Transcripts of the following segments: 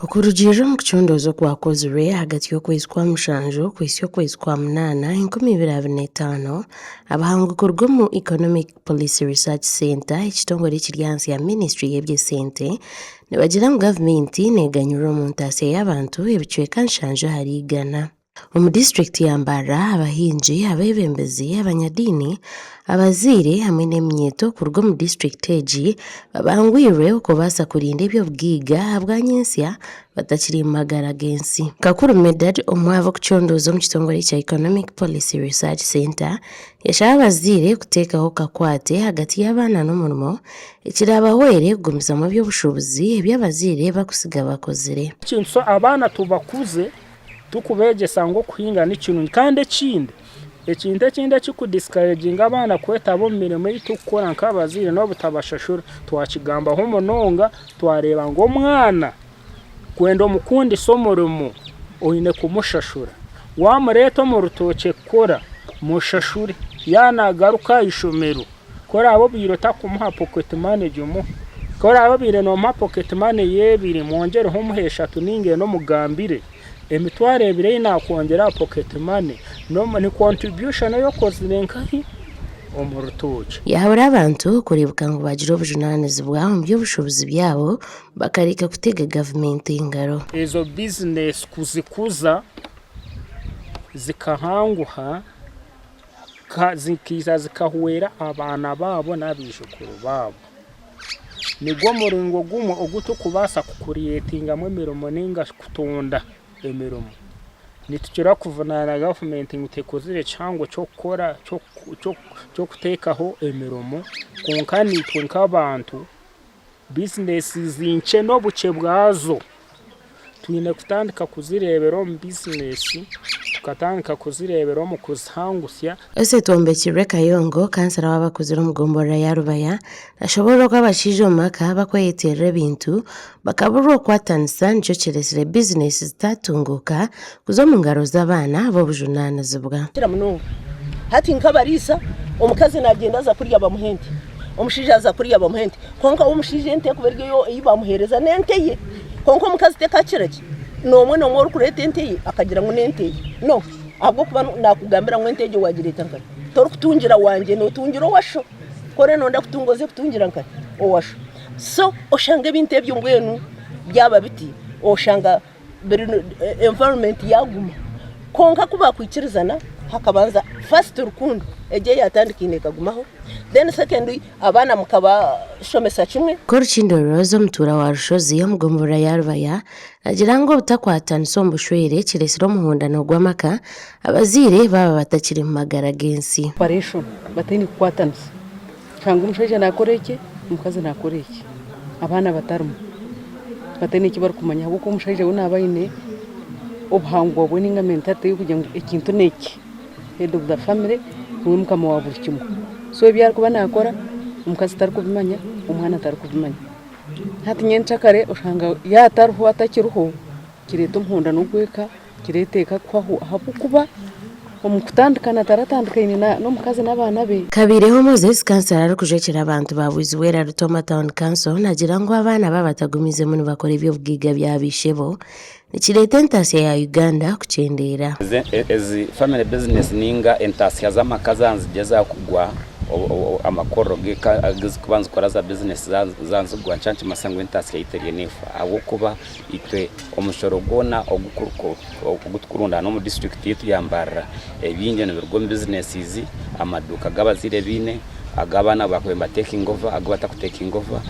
Okurugiirira omu kucondooza okwakozirwe ahagati y'okwezi kwa mushanju kuhitsya okwezi kwa munaana enkumi ibiri abiri n'etaano, abahango kuruga omu Economic Policy Research Centre, ekitongore ekiri ahansi ya ministry y'eby'esente, nibagira ngu gavumenti neganyurura omu ntaasya y'abantu ebicweka nshanju ahari igana. Omu disiturikiti ya Mbarara, abahingi, abeebembezi, abanyadiini, abazaire hamwe n'eminyeeto kuruga omu disiturikiti egi babangwirwe okubaasa kurinda eby'obugaiga ahabwanyensya batakiri omu magara g'ensi. Kakuru Medard, omwe ah'abarikucondooza omu kitongore kya Economic Policy Research Centre, yashaba abazaire kuteekaho kakwate ahagati y'abaana n'omurimo ekiraabahwere kugumizamu eby'obushuubuzi ebi abazaire bakusiga bakozire. Ekintu kya abaana tubakuze Turikubeegyesa ngu okuhinga ni kirungi. Kandi ekindi, ekintu ekindi ekirikudisikareginga abaana kwetaba omu mirimo ei turikukora nk'abazaire n'obutabashashura. Twakigambaho munonga, twareeba ngu omwana kwenda omukundisa omurimo oine kumushashura. Waamureeta omu rutookye kukora, mushashure. Yaaba naagaruka aha ishomero, Ku oraabe obaire otarikumuha pocket money gimuhe. Ku oraabe obaire noomuha pocket money y'ebiri mwongyereho omuhe eshatu nainga ena omugambire. Emitwaro ebiri ei naakwongyera aha pocket money ni contribution ei okozire nkahi? Omu rutookye. Yaahabura abantu kureebeka ngu baagire obujunaanizibwa omu by'obushuubuzi byabo bakareka kutega gavumenti engaro. Ezo bizineesi kuzikuza zikahanguha. zikaija zikahwera abaana baabo n'abaijukuru baabo. Nigwo muringo gumwe ogu turikubaasa kukuriyetingamu emirimo nainga shi kutonda emirimo. Nitukira kuvunaana gavumenti ngu tekozire kihango ky'okukora ky'okuteekaho emirimo kwonka naitwe nk'abantu bizinesi nkye n'obukye bwazo twine kutandika kuzireebera omu bizinesi tukatandika kuzireebera omu kuzihangutsya. Ese Twombekirwe Kayongo, kansera w'abakuzire omu gomborora ya Rubaya, nashoboorora oku abashaija omu maka bakweyeteerera ebintu bakaburwa okukwatanisa nikyo kiretsire bizinesi zitatunguuka Kuza omu ngaro z'abaana b'obujunaanizibwa. Kira munonga hati nk'abariisa, omukazi naagyenda aza kurya bamuha ente, omushaija aza kurya bamuha ente, kwonka we omushaija ente ekuba eri eyo ei baamuheereza n'ente ye. Kwonka omukazi tekakira ki noomwe noomwe orikureeta ente ye akagira ngu n'ente ye. No, ahabw'okuba naakugambira ngu ente egyo waagireeta nkare, torikutungira wangye, nootungira owa sho. Ku oriyo nooyenda kutunga oze kutungira nkare owa sho. So oshange ebintu ebyo mbwenu byaba biti, oshanga environment yaguma kwonka ku bakwikirizana hakabanza first rukundo egyo eyatandikaine ekagumaho then secondly abaana mukabashomesa kimwe. Korukindo Rose omutuura wa Rushozi omu gombolola ya Rubaya nagira ngu obutakwatanisa omu bushwere kiretsire omuhondano gw'amaka abazaire baaba batakiri mu magara g'ensi. operation bataine kukwatanisa. Shanga omushaija nakora eki, omukazi nakora eki, abaana batarimu, bataine eki barikumanya ahabw'okuba omushaija we naba aine obuhangwa bwe ninga mentality y'okugira ngu ekintu n'eki, head of the family, niwe mukama wa buri kimwe. So ebi arikuba nakora omukazi tarikubimanya, omwana tarikubimanya. Hati nyencakare oshanga yatariho, atakiriho, kireeta omuhondano ogw'eka. Nikireeteka kuhwaho ahabw'okuba omukutandika nataratandikaine n'omukazi n'abaana be. Kabaireho Moses kansara arikujwekyera abantu ba Bwizibwera Rutoma Town Council nagira ngu abaana baaba batagumiizemu nibakora eby'obugaiga bya baishebo nikireeta entaasya ya Uganda kukyendeera. Ezi family business ninga entaasya z'amaka zanzigye zakugwa amakorro g'eka agizikuba nizikora za business zanzigwa nikikira nikimanyisa ngu entaasya yaitu eriyo neefa ahabw'okuba itwe omushoro gwona ogu tukurundaana omu disiturikiti yaitu ya Mbarara, ebingi nibiruga omu bizinesizi, amaduuka agu abazaire baine, agu abaana baahwera nibatekinga ova, agu batakutekinga ova,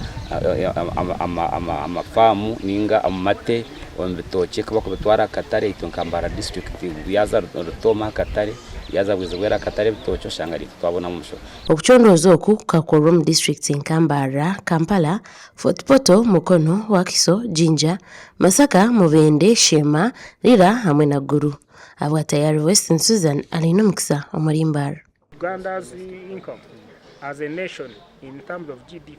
ama faamu nainga amate, omu bitookye ku barikubitwara aha katare, itwe nka Mbarara disiturikiti yaaza Rutoma aha katare, yaaza Bwezibweera aha katare ebitookye oshanga niitwe twabonamu omushoro. Okucondooza oku kukakorwa omu disiturikiti nka Mbarara, Kampala, Fort Portal, Mukono, Wakiso, Jinja, Masaka, Mubende, Sheema, Lira hamwe na Gulu. Ahabwa Tayari Western Susan Alainomukisa omuri Mbar. Uganda's income as a nation in terms of GDP.